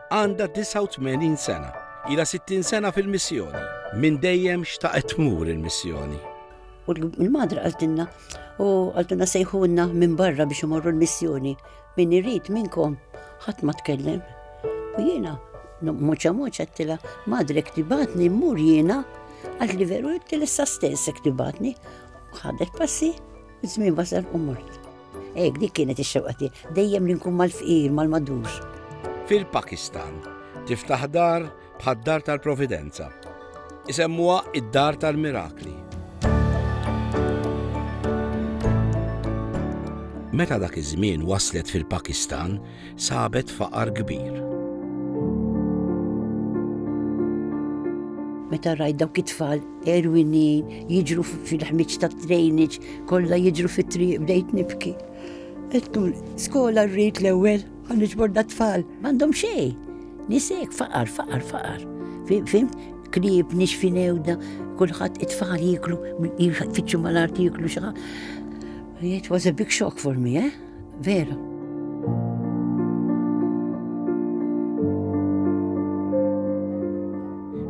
Għandha 89 sena, ila 60 sena fil-missjoni. Minn dejjem xtaqet tmur il-missjoni. U l-madra għaltinna, u għaltinna sejħunna minn barra biex imorru l-missjoni. Min irrit minnkom, ħadd ma tkellem. U jiena, muċa muċa t-tila, madre ktibatni mmur jiena, għal li veru t-tila stess ktibatni, ħadet passi, zmin basar u mort. Hekk dik kienet ix-xewqa tiegħi, dejjem li nkun mal-fqir, mal-madux. Fil-Pakistan tiftaħ dar bħad-dar tal-Providenza. Isemmuha id-dar tal-mirakli. Meta dak iż-żmien waslet fil-Pakistan, sabet faqar kbir. meta rajt dawk it-tfal erwinin jiġru fil-ħmiġ ta' trejniġ, kollha jiġru fit-triq bdejt nibki. Ettum, skola rrit l-ewwel, għan iġborda tfal, m'għandhom xejn. Nisek faqar, faqar, faqar. Fim, krib, nix finewda, kulħadd it-tfal jiklu, jfittxu mal-art jiklu xi It was a big shock for me, eh? vera.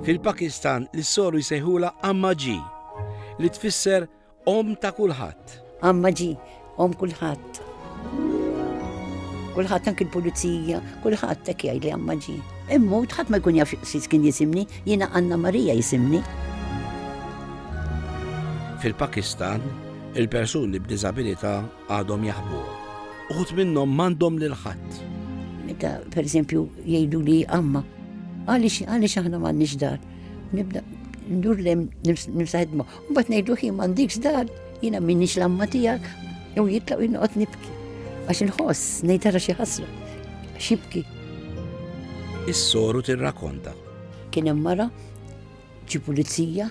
Fil-Pakistan l-soru jsejħula Amma Ġi li tfisser om ta' kulħadd. Amma Ġi, om kulħadd. Kulħadd anki l-pulizija, kulħadd tek jgħid li Amma Ġi. Immu tħadd ma jkun jaf xi kien jisimni, jiena Anna Marija jisimni. Fil-Pakistan, il-persuni b'diżabilità għadhom jaħbuhom. Uħud minnhom m'għandhom lil ħadd. Meta pereżempju jgħidu li għamma, għaliex għaliex aħna m'għandniex dar. Nibda ndur lem nimsaħedma. U bat ngħidu ħin m'għandikx dar, jiena minnix l-amma tiegħek, jew jitlaq jinqgħod nibki. Għax inħoss ngħid ara xi ħasra, xibki. Is-soru tirrakonta. Kien hemm mara ġi pulizija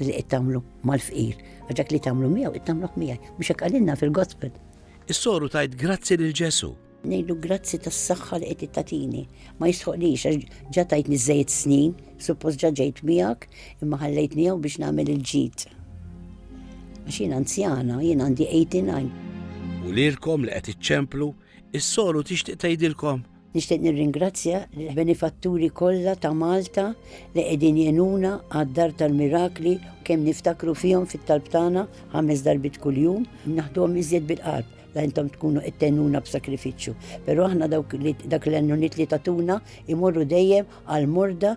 Li qed tagħmlu mal-fqir, għax dak li tagħmlu miegħu qed tagħmluh miegħi, mhux hekk qalilna fil-Gospel. Is-soru tajt grazzi lil Ġesu. Ngħidu grazzi tas-saħħa li qed tatini. Ma jisħoqlix għax ġa tajtni żejjed snin, suppost ġa ġejt miegħek, imma ħallejtni hawn biex nagħmel il-ġid. Għax jien anzjana, jien għandi 89. U lilkom li qed iċċemplu, is-soru tixtieq tgħidilkom Nixtieq nirringrazzja lill-benifatturi kollha ta' Malta li qegħdin jgħinuna għad-Dar tal-Mirakli u kemm niftakru fihom fit-talb tagħna ħames darbiet kuljum, naħduhom iżjed bil-qalb la intom tkunu qed tgħinuna b'sakrifiċċju. Però aħna dawk li dak l-għenuniet li tatuna imorru dejjem għall-morda